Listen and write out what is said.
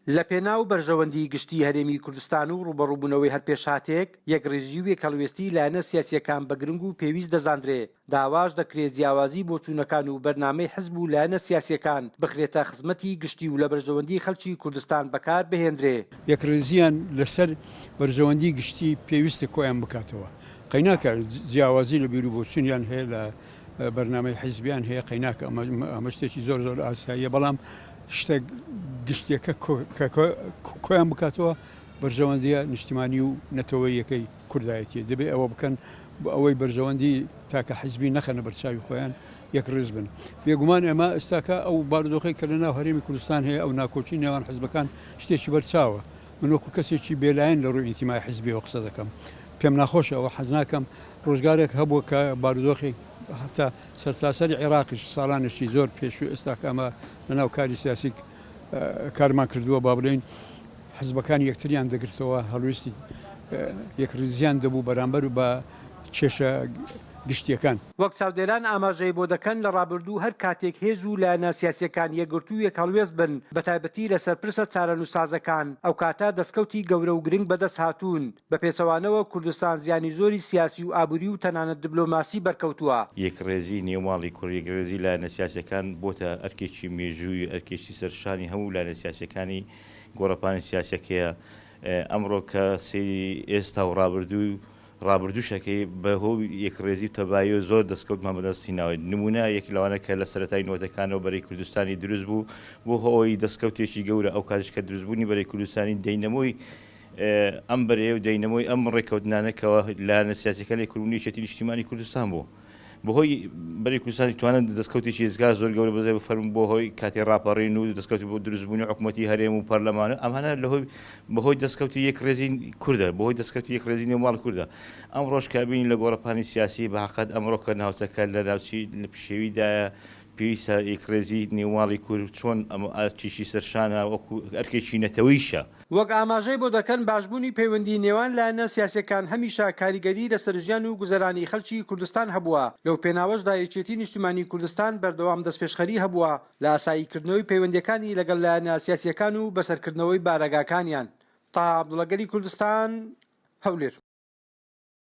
لەپێناو بەرژەوەندیی گشتیی هەرێمی کوردستان و ڕووبەڕووبوونەوەی هەر پێشهاتێک، یەکڕیزیی و یەکهەڵوێستیی لایەنە سیاسییەکان بە گرنگ و پێویست دەزاندرێ، داواش دەکرێ جیاوازیی بۆچوونەکان و بەرنامەی حزب و لایەنە سیاسییەکان بخرێتە خزمەتی گشتی و لە بەرژەوەندیی خەڵکی کوردستان بەکار بهێندرێ. یەکڕیزییان لەسەر بەرژەوەندیی گشتی پێویستە کۆیان بکاتەوە، قەیناکە جیاوازی لە بیروبۆچونیان هەیە لە. بەرنامەی حیزبیان هەیە قەیناک ئەمە شتێکی زۆر زۆر ئاساییە بەڵام شتە گشتیەکە کۆیان بکاتەوە بەرژەوەندیە نیشتیمانی و نەتەوەیەکەی کوردایەتی دەبێ ئەوە بکەن بە ئەوەی بەرژەوەندی تاکە حیزبی نەخەنە بەرچاوی خۆیان یەک ڕز بن بێگومان ئەمە ئێستاکە ئەو باردۆخی کە لە ناو هەرێمی کوردستان هەیە ئەو ناکۆکی نێوان حزبەکان شتێکی بەرچاوە من وەکو کەسێکی بێلایەن لە ڕووی ئینتیمای حزبیەوە قسە دەکەم پێم ناخۆشە ئەوە حەزناکەم ڕۆژگارێک هەبووە کە بارودۆخی هەتا سەرتاسەری عێراقیش ساڵانێکی زۆر پێشوو ئێستا کە ئەمە لەناو کاری سیاسی کارمان کردووە با بڵێین حزبەکان یەکتریان دەگرتەوە هەڵویستی یەکڕیزیان دەبوو بەرامبەر و بە کێشە گشتیەکان. وەک چاودێران ئاماژەی بۆ دەکەن لە ڕابردوو هەر کاتێک هێز و لایەنە سیاسیەکان یەکگرتوو یەک هەڵوێست بن بەتایبەتی لەسەر پرسە چارەنوسسازەکان ئەوکاتە دەستکەوتی گەورە و گرنگ بەدەست هاتوون، بە پێچەوانەوە کوردستان زیانی زۆری سیاسی و ئابووری و تەنانەت دبلۆماسی بەرکەوتووە. یەکڕێزیی نێو ماڵی کورد، یەکڕێزیی لایەنە سیاسییەکان بۆتە ئەرکێکی مێژوویی، ئەرکێکی سەر شانی هەموو لایەنە سیاسییەکانی گۆڕەپانی سیاسییەکەیە. ئەمڕۆ کە سەیری ئێستا و ڕابردوو و ڕابردووش ئەکەی، بە هۆی یەکڕێزی و تەباییەوە زۆر دەستکەوتمان بە دەست هیناوە. نموونە یەک لەوانە کە لە سەرەتای نەوەتەکانەوە بەرەی کوردستانی دروست بوو، بووە هۆی دەستکەوتێکی گەورە، ئەو کاتیش کە دروستبوونی بەرەی کوردستانی دەینەمۆی ئەم بەرەیە و داینەمۆی ئەم ڕێککەوتنانە کە لایەنە سیاسیەکانی کورد بوون یەکێتی نیشتیمانی کوردستان بوو بەهۆی بەری کوردستانی توانن دەستکەوتێکی ئێزگار زۆر گەورە بەزای بفەرم بۆ هۆی کاتی ڕاپەڕین و دەستکەوتی بۆ دروستبوونی حکوومەتی هەرێم و پەرلەمانە ئەمانە لەهۆی بەهۆی دەستکەوتی یەک ڕێزی کوردە بەهۆی دەستکەوتی یەک ڕێزی نێوماڵ کوردە ئەم ڕۆژکابینی لە گۆڕەپانی سیاسی بەقەت ئەمڕۆکە ناوچەکە لە ناوچی لە پشێویدایە پێویستە یەکڕێزی نێوماڵی کورد چۆن ئەم ئارچیشی سەرشانە وەکو ئەرکێکی نەتەوەیشە وەک ئاماژەی بۆ دەکەن باشبوونی پەیوەندی نێوان لایەنە سیاسیەکان هەمیشە کاریگەری لەسەر ژیان و گوزەرانی خەلکی کوردستان هەبووە، لەو پێناوەشدا یەکێتی نیشتیمانی کوردستان بەردەوام دەستپێشخەری هەبووە لە ئاسایی کردنەوەی پەیوەندیەکانی لەگەڵ لایەنە سیاسیەکان و بەسەرکردنەوەی بارەگاکانیان. تەها عەبدوڵا گەلی کوردستان هەولێر.